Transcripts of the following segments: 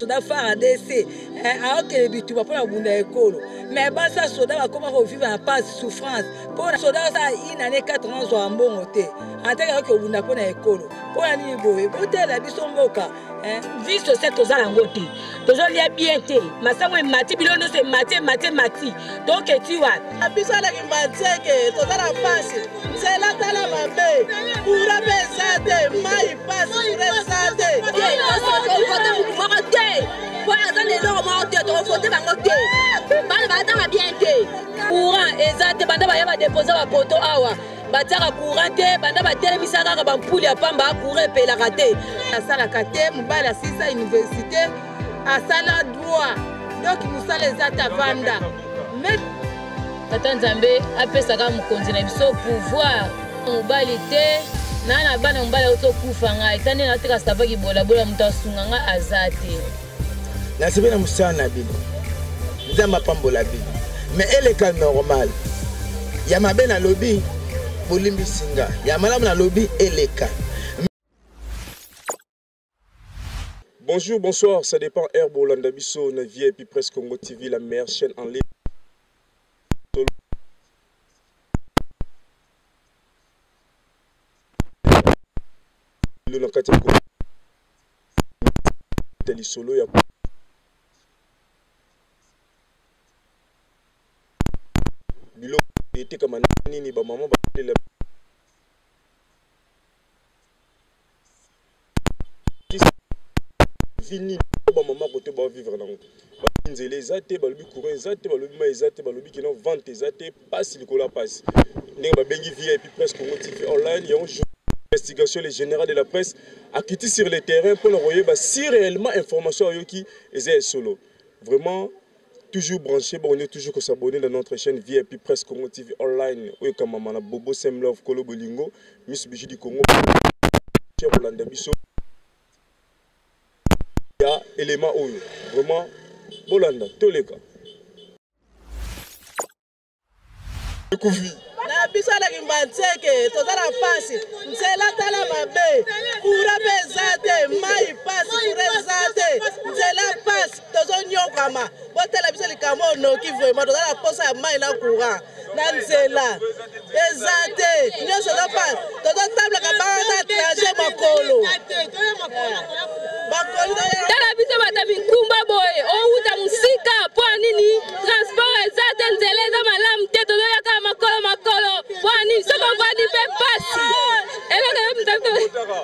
soda fardc eh, aokele bituba mpo na kobunda ekolo me basi ya soda bakoma kovivre na pasi souffrance mpo na soda osala inane 4 ans zwaka mbongo te atake aoki kobunda mpo na ekolo mpo na nini boye botela biso mboka eh. vie sociale toza yango te tozolia bien te masango emati bino nyonso emati emati emati toketi wapi biso aleki manseke toza na mpasi nzela tala mabe kura mpe eza te mai mpasi kura eza te tokovote motu moko te mpo aza na eloko moko te tokovote bango te bana batanga bien te courant eza te banda baya badepose bapoto awa batiaka courant te banda batelemisa kaka bampule ya pamba courant epelaka te asalaka te mobali asilisa université asala droit donc mosala eza te avanda tata nzambe apesaka mokonzi na biso pouvoir mobali te naa na bana mobali aotokufa ngai ta nde nateka savaki bolabola moto asunga ngai aza te nasepeli na mosala na bino nzambe apambola bino me eleka normal ya mabe nalobi bolimbisi nga ya malamu nalobi eleka Bonjour, bonsoir, ça dépend. Herbo Landabiso, Navi et puis Presse Congo TV, la meilleure chaîne en ligne. Luna Katia Congo. kobeta lisolo ya koyeba biloko etekama ndenge nini bamama basalela vie nini bamama kote baovivre nango balobi nzela eza te balobi courant eza te balobi mai eza te balobi kino vente eza te pasi likolo ya pasi ndenge babengi vip presse congo tv online yango investigation le général de la presse akiti sur le terrain mpo na koyeba si réellement information ayoki eza ya solo vraiment toujours branché bongo toujours kosabone na notre chaîne vip presse congo tv online oyo ekamama na bobo semlove kolo bolingo miss biju du congo kolanda biso ya élément oyo vraiment bolanda toleka na biso na kimbanseke toza na mpasi nzela tala mabe kura mpe eza te mai mpasi kura eza te nzela mpasi tozonyokama botala biso likambo oyo noki vraimen toza na mposa ya mai na courant na nzela eza te nyonso ezopasa tozotamblaka bana na trajet makolo tala biso bata mikumba boye owuta mosika mpo ya nini transport eza te nzela eza malamu te tozoyaka makolo makolo mpo ya nini soki ovandi mpe pasi eloko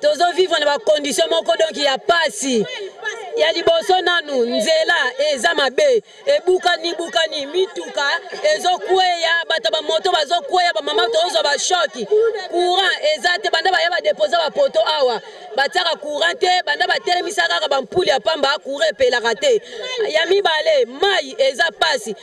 tozo vivre na bacondition moko donc ya pasi ya liboso nanu nzela eza mabe ebukani bukani mituka ezokweya bato bamoto bazokweya bamama tozwa bashoki courant eza te banda baya badepose bapoto awa batiaka courant te banda batelemisaka kaka bampule ya pamba courant epelaka te ya mibale mai eza pasi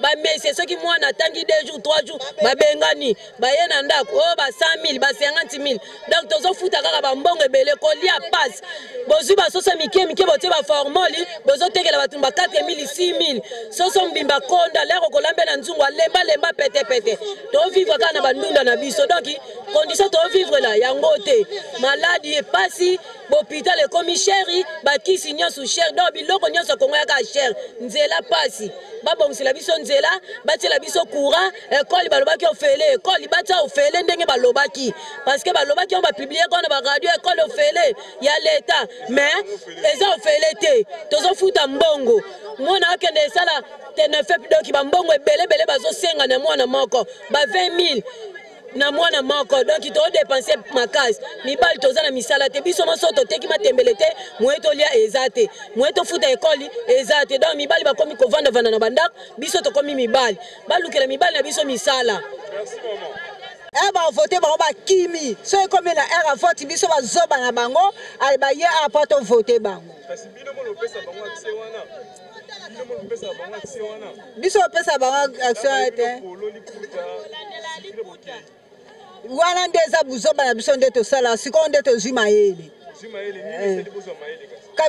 bamesie soki mwana atangi 2 jours 3 jours babengani baye na ndako oyo oh, ba 100 000 ba 50 000 donc tozofuta kaka bambongo ebele kolia pasi bozwi basoso mike mike botie baformoli bozotekela bato ba 4 000 6 000 soso mbimba konda lero kolambe na nzungu alemba lemba pete pete tovivre kaka na bandunda na biso donc condition tovivre na yango te maladi epasi bopital ekomi sheri bakisi nyonso sher donc biloko nyonso kongo yaka sher nzela pasi babongisela biso nzela batiela biso courant ekoli balobaki ofele ekoli batia ofele ndenge balobaki parceke balobaki yango bapiblie yango na baradio ekoli ofele ya leta mais eza ofele te tozofuta mbongo mwana akende esala tenefep doki bambongo ebele ebele bazosenga na mwana moko ba 20 000 na mwana moko donc to dépense makasi mibali toza na misala te biso maso toteki matembele te moye tolia eza te moye tofuta ekoli eza te donc mibali bakomi kovandavanda na bandako biso tokomi mibali balukela mibali na biso misala ere eh, bavote bango bakimi soki ekomi na ere avoti biso bazoba na bango baye apo tovote bango biso opesa bango action te wana nde eza buzoba na biso nde tosala sikoyo nde tozwi mayele eh.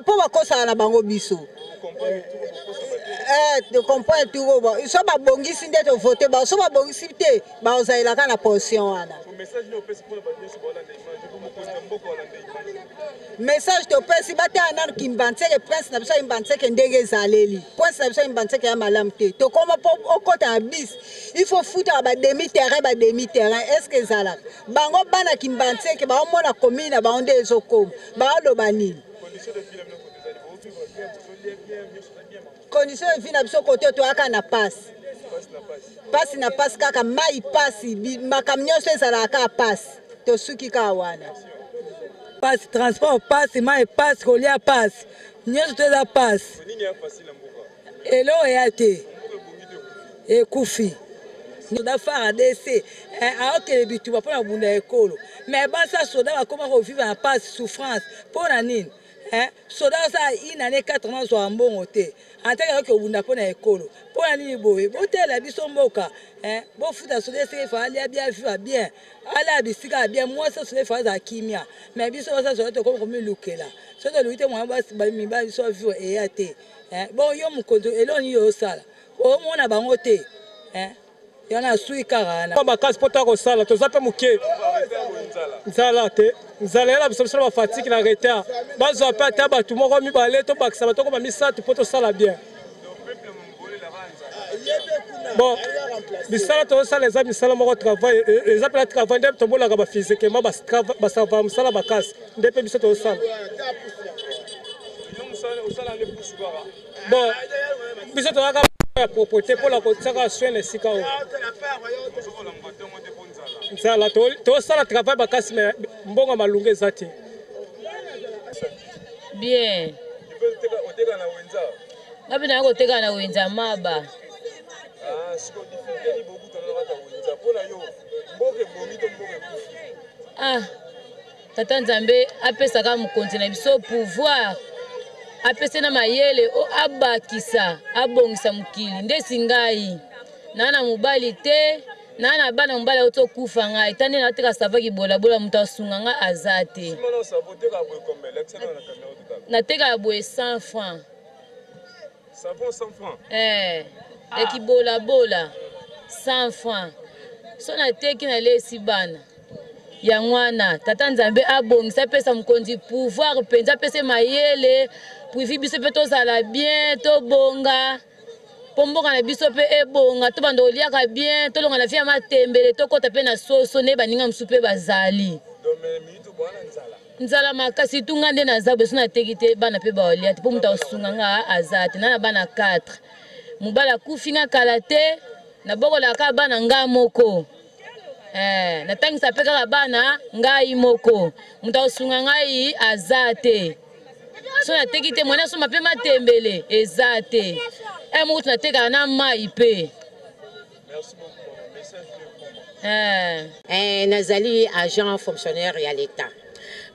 mpo bakosana na bango biso tocomprendre eh, tour oyo so babongisi nde tovote bango so babongisi te baozalela kaka na position wana message topesi batala nanu kimbanseke prince na biso ya imbanseke ndenge ezaleli prince na biso ya imbanseke ya malamu te tokoma mpo okota na bis il faut futaka bademi terrain bademi terrain est ce que ezalaka bango bana kimbanseke baomona komini na bango nde ezokoma baoloba nini condition ya vie na biso kote oyo toyaka na pasi pasi na pasi kaka mai pasi makambo nyonso ezalaka kaka pasi tosuki kaka wana pasi transport pasi mai pasi kolia pasi nyonso to eza pasi eloko eya te ekufi soda fardc eh, aokele bituba mpo na kobunda ekolo mai basa soda bakoma kovivre na pasi souffrance mpo na nini eh? soda osala une année 4 mois ozwaka mbongo te antake ayoki obunda mpo na ekolo mpo na nini boye botelela biso mboka bofuta soda esika efa alia bia viva bien alaa bisika ya bien mwasi ya soda efa azala kimia mai biso basa soda tokomi komilukela so toluki te mwana mibali biso bavivre eya te bon yo mokonzi eloko nini yo osala omona bango te yana asui kaka wana makasi mpo toya kosala toza mpe moke nzala te nzala yana biso biso na bafatiki na retard bazwa mpe ata bato moko mibale tobakisa bato okoma misato mpo tosala bien bon misala tozosala eza misala moko travail e, e, eza mpena travail nde tomonaka bafizikema basava mosala makasi nde mpe biso tozosala bon biso tozalaka ya propreté mpo na kotiaka soin na esika oyo nzala tosala travail makasi me mbongo malunga eza te bien ngapi naye koteka na wenza maba ah, ah. tata nzambe apesa kaka mokonzi na biso pouvoir apesa na mayele o abakisa abongisa mokili ndesi ngai naa na mobali te naa na bana mobali auti okufa ngai ta nde nateka savaki bolabola moto asunga ngai aza te nateka ya boye 100 franc Savon 100 francs. Eh, ah. ekibola bola 100 francs. So na teki na lesi bana. yango wana tata nzambe abongisa apesa mokonzi pouvoir mpenza apese mayele puivi biso mpe tozala bien tobonga mpo mboka na biso mpe ebonga tobanda koliaka bien tolonga na vie ya matembele tokɔta mpe na soso nde baninga mosusu mpe bazali nzala makasi tu nga nde naza boso nateki te bana mpe baolia te mpo moto akosunga nga aza te na na bana 4 mobali akufi nga kala te nabokolaka kaka bana nga moko eh, natangisa mpe kaka bana ngai moko moto akosunga ngai aza te so nateki te mwana asomba mpe matembele eza te e eh, mokutu natekaka na mai mpe Eh. Eh, nazali agent fonctionnaire ya l'État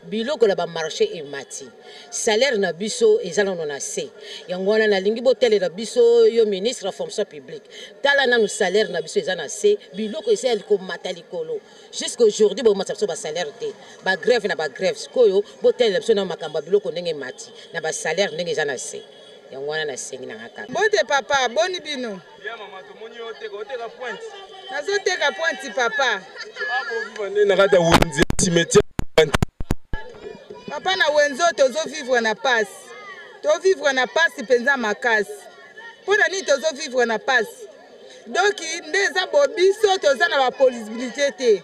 biloko na bamarché emati salaire na biso eza nano na se yango wana nalingi botalela biso yo ministre ya fonction publique tala nanu salaire na biso eza na se biloko eza ya komata likolo jusqu'à aujourd'hui bomatisa biso basalaire te bagrève na bagrève sikoyo botalela biso na makambo ya biloko ndenge emati na basalaire ndenge eza na se yango wana nasengi nanga kaka bote papa boni bino Ya mama tomoni yo oteka oteka pointe. Nazoteka pointe papa. Akoviva nde na kati ya wenze cimetière. Papa na wenze oyo tozovivre na pasi. Tovivre na pasi mpenza makasi. Mpo na nini tozovivre na pasi? Doki nde eza bobiso toza na baposibilité te.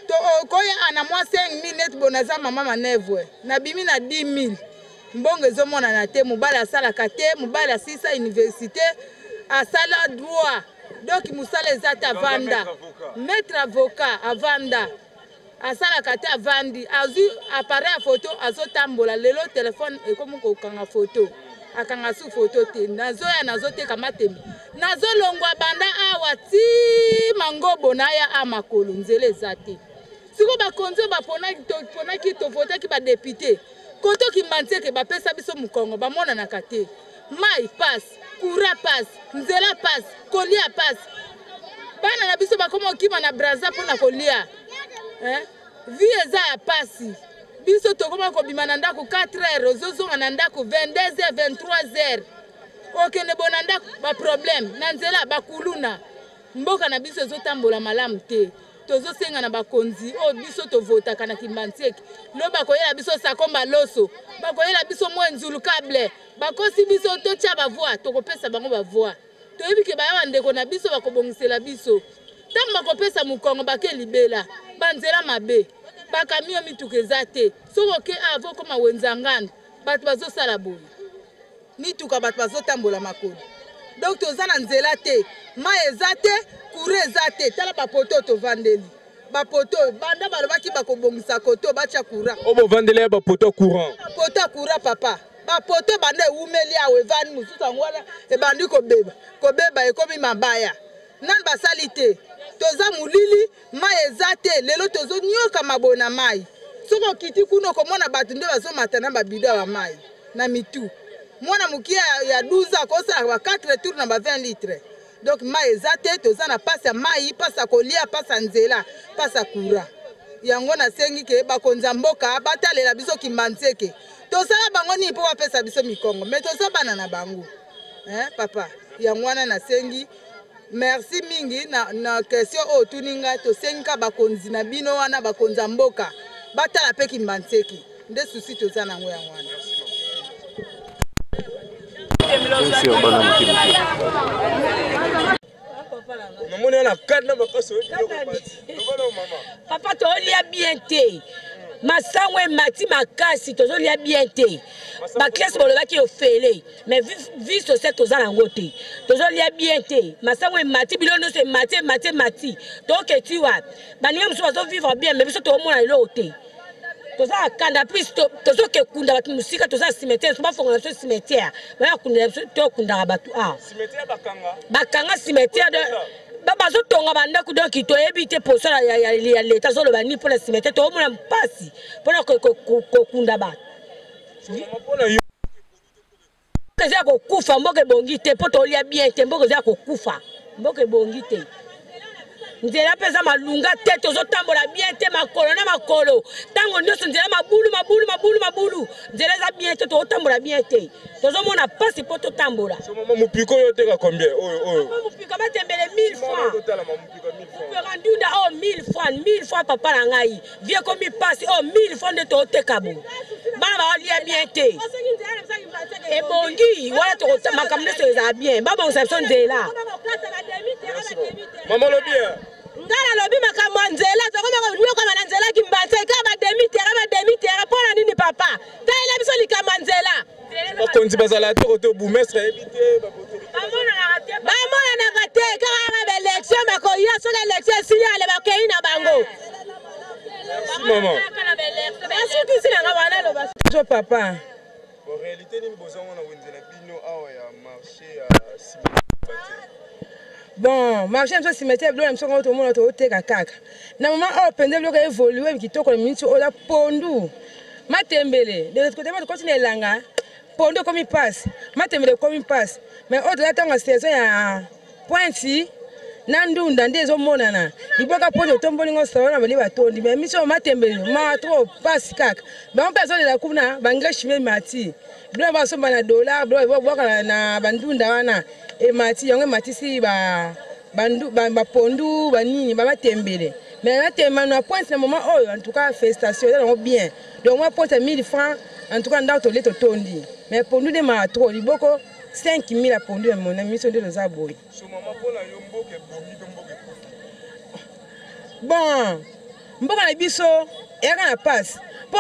Tokoya ana mwa 5000 neti bonaza mama manevre. Nabimi na 10 000. mbongo ezomonana te mobali asalaka te mobali asilisa université asala droit donc mosala eza te avanda maître avocat avanda asalaka te avandi azwi appareil ya foto azotambola lelo telefone ekomi kokanga foto akanga su foto te nazoya nazoteka matemi nazolongwa banda awa ti mangobo naya a makolo nzela eza te siko bakonzi oyo baponaki tovotaki badepute koto kimbanseke bapesa biso mokongo bamonanaka te mai pasi kura pasi nzela pasi kolia pasi bana na biso bakoma kokima na braza mpo na kolia eh? vie eza ya pasi biso tokoma kobima na ndako 4 heures ozozonga na ndako 22 heures 23 heures okende bo na ndako baproblème na nzela bakuluna mboka na biso ezotambola malamu te tozosenga na bakonzi oyo biso tovotaka na kimbantieke lo bakoyela biso sakomba loso bakoyela biso mwa nzulukable bakosi biso totya bavoi tokopesa bango bavoi toyebi ke baya bandeko na biso bakobongisela biso ntango bakopesa mokongo bake libela banzela mabe bakamio mituka eza te soki oke avo koma wenzangana bato bazosala boye mituka bato bazotambola makolo donc toza na nzela te mai eza te kure eza te tala bapoto tovandeli bapoto oyo banda balobaki bakobongisa koto batya courant oyo bovandeli ya bapoto ya courant bapoto ya courant papa bapoto banda ewumeli awa evandi mosusu yango wana ebandi kobeba kobeba ekomi mabaya nani basali te toza molili Mayi eza te lelo tozo nioka maboye na mayi. Soki okiti kuna okomona bato nde bazomata na ba bidon ya ba mayi na mitu. Mwana mokie ya 12 ans akosalaka ba 4 tours na ba 20 litres. Donc mayi eza te, toza na pasi ya mayi, pasi ya kolia, pasi ya nzela, pasi ya courant. Yango nasengi ke bakonzi ya mboka batalela biso Kimbanseke. Tosala bango nini po bapesa biso mikongo? Mais toza bana na bango. Hein papa? Yango wana nasengi Merci mingi na, na question oyo otuni ngai. Tosengi kaka bakonzi na bino wana bakonza mboka batala mpe Kimbanseki, nde susi toza na yango yango wana. namoni wana kati na makasi papa tolia bien te masango emati makasi tozolia bien te baklase bolobaki ofele mais vie sociale toza nango te tozolia bien te masango emati bino nyonso emati emati emati toketi wapi baninga mosusu bazovivre bien mais biso toomona eloko te toza na kanda plus tozoke kunda bato mosika toza na cimetière so bafongola biso cimetière baya kundela biso tokundaka bato awa bakanga cimetière bazotonga bandako donki toyebi te poso ya leta azoloba nini mpo na cimetière toomona mpasi mpona kokunda bato eza ya kokufa mboka ebongi te mpo tolia bien te mboka eza ya kokufa mboka ebongi te nzela mpe eza malunga te tozotambola bien te makolo na makolo ntango nyonso nzela mabulu mabulu mabulu mabulu nzela eza bien te tozotambola bien te tozomona mpasi mpo totambola mopiko oyo oteka combien oyo oyo mopiko batembele 1000 francs mopiko nduda oyo 1000 francs 1000 francs papa na ngai vie ekomi mpasi oyo oh, mille fois nde toteka bo bana baolia bien te ebongi wana makambo nyonso ezala bien babongisa biso nzela mama olobi nga nalobi makambo ya nzela tokoma konyokama na nzela kimbanse kaka bademi terrain bademi terrain mpo na nini papa talela biso likambo ya nzela bakonzi bazala te kote boumestre ayebi te bamonanaka te kaka yaka baelektio bakoya soki elektio esili ale bakei na bango basukisi nanga wana loba jo papa réalité nini bozango na wenze na bino awa ya marché ya bon marché biso cimetière biloko na biso yango tomona toteka kaka na mama oyo mpenza biloko evolue kitoko na miniti oyo na pondu matembele de l'autre côté bato koti na elanga pondu ekomi mpasi matembele ekomi mpasi mais oyo toza ntango ya saison ya pointi na ndunda nde ezomonana liboka mpo totomboli ngo solo na bali batondi mais miso matembele ma trop mpasi kaka bango mpe azolela kuna bangreshi me mati biloko basomba na dollar biloko babwaka na bandunda wana emati yango ematisi bapondu banini babatembele mais natema na pointe na moment oyo en tout cas festation eza nango bien donc mwa pointe ya 1000 francs en tout cas ndako tolie totondi mais pondu nde maa trop liboko 5000 ya pondu na miso nde toza boye bon mboka na biso eyaka na passe mpo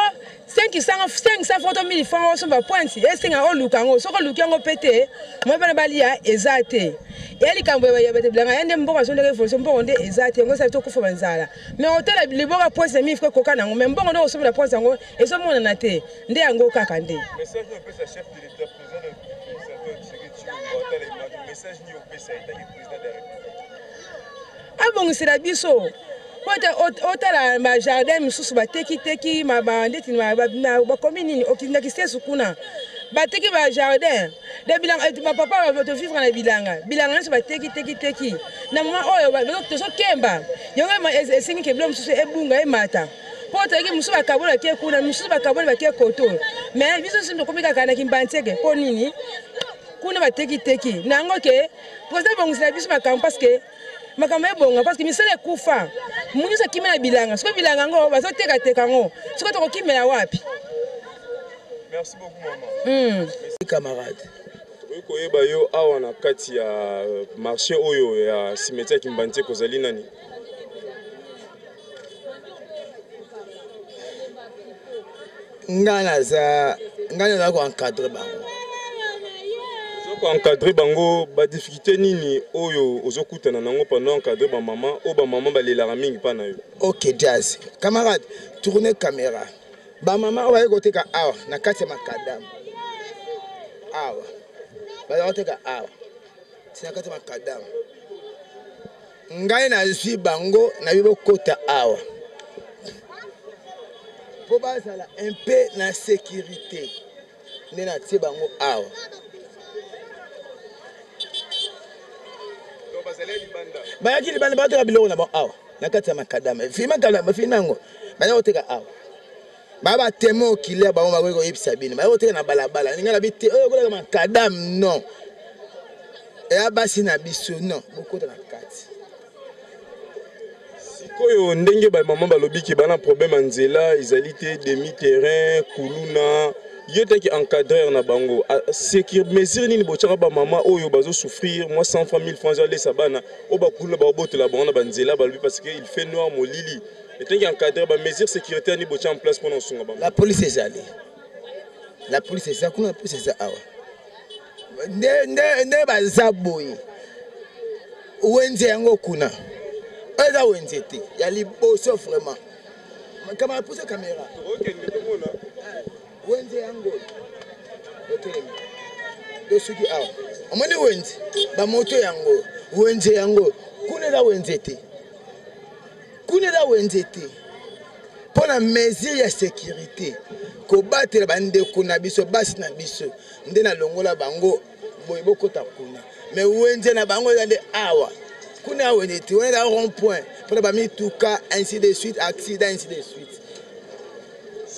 500 foto 1000 franc osomba pointe esenga oluka yango soki oluki yango mpe te moi bana balia eza te eya likambo ya bato bilanga ya nde mbongo azondaka evolution mbongo nde eza te yango esali tokufa banzala me otala liboka pointe na 1000 franc ekoka na yango me mbongo nde okosombela pointe yango ezomonana te nde yango kaka nde abongisela biso po ete otala bajardin mosusu batekiteki ndeti bakomi nini okindaki sesu kuna bateki bajardin bapapa tovivre na bilanga bilanga nyonso bateki teki teki na moma oyo tozokemba yango esengi ke bilo mosusu ebunga emata mpo tozalaki mosusu bakaboli bake kuna mosusu bakaboli bake koto me biso nso tokomi kaka na kimbanseke mpo nini kuna batekiteki na yango ke president ebongisela biso makambo parce que makambo ebonga parce que misala ekufa moto nyonso akimi na bilanga soki bilanga yango bazotekateka yango soki tokokimela wapi merci beaucoup mama mm. camarade okoki koyeba yo awa na kati ya euh, marché oyo ya simeti ya kimbanti ekozali nani nga naza nga naza ko encadrer bango ko encadrer bango ba difficulté nini oyo ozokutana nango pendant encadrer ba maman oyo ba maman balelaka mingi pa na yo ok jazz camarade tourne caméra ba maman oyo baye koteka awa na kati ya makadamu awa bazakoteka awa tina kati ya makadamu ngai nazwi bango na yo bokota awa mpo bazala un peu na sécurité nde natie bango awa bayaki libanda bateka biloko na bango awa na kati ya makadama fi makadama fi nango baza koteka awa ba ba temo killer bango bakoki koyebisa bino baye koteka na balabala ninga na bi te oyo kolaka makadam non eya basi na biso non bokota na kati sikoyo ndenge bamama balobi ke bana problème ya nzela ezali te demi terrain kuluna yo taki encadreur na bango ah, secure mesure nini botyaka bamama oyo bazosouffrir mwa 100 franc 1000 franc ezalesa bana oyo bakuluna baobotela bango na banzela balobi parce que il fait noir molili etengi encadre ba mesures sécuritaires ni botia en place mpona kosunga bango la police ezali la police eza kuna police eza awa nde baza boye wenze yango kuna eza wenze te ya liboso vraiment kamara pusa kamera wenze yango otelemi to soki awa omoni wenze bamoto yango wenze yango kuna eza wenze te Kuna eza wenze te mpo na mesure ya securite kobatela bandeko na biso basi na biso nde nalongola bango boye bokota kuna me wenze na bango eza nde awa kuna wenze te wana eza rond point mpona bamituka ainsi de suite accident ainsi de suite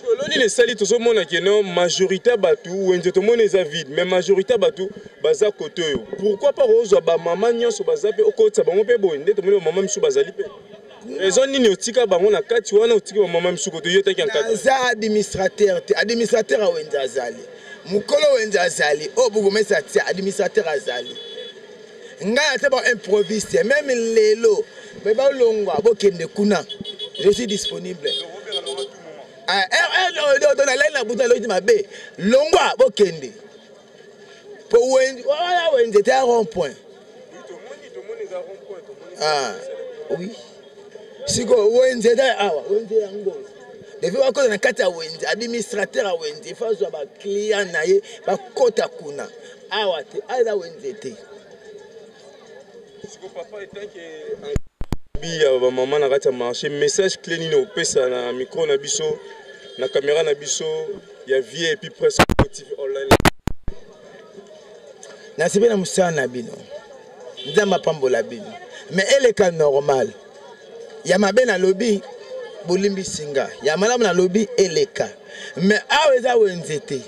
solo nini esali tozomona keno majorité ya bato wenze tomoni eza vide mais majorité ya bato baza kote oyo pourkui pa kozwa bamama nyonso baza mpe okotisa bango mpe boye nde tomoni bamama misusu bazali mpe raison nini otika bango na kati wana otiki bamama misusu kote yo taki aza administrateur te administrateur ya wenze azali mokolo wenze azali oyo bokomesa tia administrateur azali ngai ata ba improviste meme lelo me balongwa bokende kuna je suis disponible ah, eh, eh, nalai na butu naloki mabe longwa bokende po wana wenze te ya rond point ah, oui sikoyo wenze eza awa wenze yango evi bakota na kati ya wenze administrateur ya wenze efa azwa baclient na ye bakota kuna Awa te, awa eza wenze te. Siko papa etanke biya ba mama na kati ya marché message clé nini opesa na micro na biso na kamera na biso ya vie epuis presse tv online nasepeli na mosala na bino nzambe apambola bino me eleka normal ya mabe nalobi bolimbisi nga ya malamu nalobi eleka me awa eza wenze te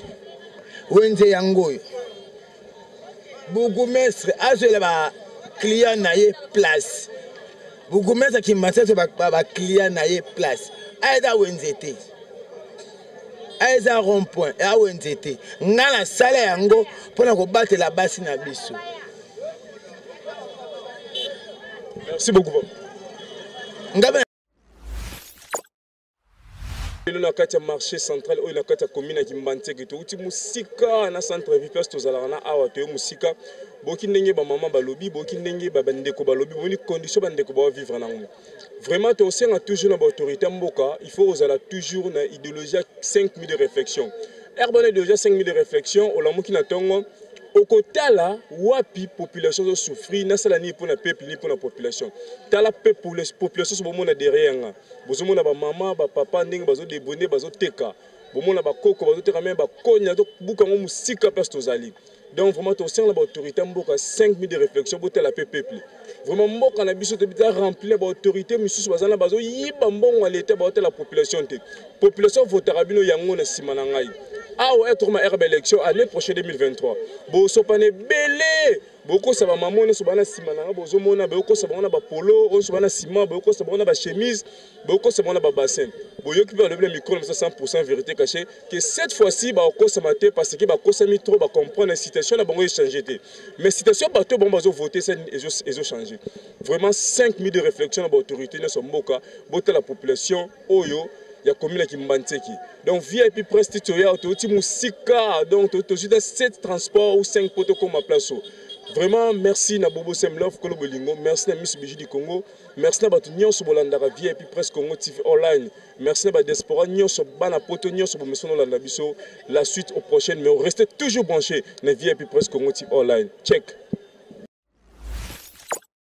wenze yango oyo bourgoumestre azwela ba client na ye place bourgoumestre ya kimbansi azwela ba client na ye place aeza wenze te aeza rond point ya wenze te ngai nasala yango mpo na kobatela basi na biso merci beaucoup ngai lelo na kati ya marché central oyo na kati ya commune ya kimbanzeke touti mosika na centre vie place tozalaka na awa toye mosika boki ndenge bamama balobi boki ndenge bandeko balobi bomoni condition bandeko bawa vivre nango vraiment tosenga toujours na baautorité ya mboka il faut kozala toujours na idéologie ya 5 minutes de réflexion ere bana idéologie ya 5 minutes de réflexion olamuki na ntongo okotala wapi population ezosouffrir nasala nini mpo na peuple nini mpo na population tala population so bomona derrière nga bozomona ba mama ba papa ndenge bazo debone bazoteka bomona bakoko bazoteka meme bakoni azobuka yango mosika place tozali donc vraiment tosengana na baautorité ya mboka 5 minutes de réflexion botala mpe peuple vraiment mboka na biso toza rempli na baautorité misusu baza na bazoyiba mbongo ya leta baotala population te population votaka bino yango na nsima na ngai awa etroma rba élection année prochaine 2023 bosopana ebele bokosa ba maman nyonso bana nsima na nga bozomona bokosa bango na bapolo nyonso bana nsima bokosa bango na bachemise bokosa bango na babassin boyoki mpe balobi na mikolo mosa 100 vérité caché ke cette fois-ci bakokosama te parce que bakosami trop bacomprendre situation na bango echange te mais situation bato oyo bango bazovote ezochange vraiment 5 minutes de réflexion na baautorité nyonso ya mboka botala population oyo ya commune ya Kimbanseki. Donc VIP presse titre ya toti musika donc tozui da 7 transport ou 5 poto koma place. Vraiment merci na Bobo Sem Love Kolo Bolingo, merci na Miss Biji du Congo, merci na batu nyonso bolandaka VIP presse Congo TV online. Merci na ba diaspora nyonso bana poto nyonso bomesono landa biso. La suite au prochain mais restez toujours branchés na VIP presse Congo TV online. Check.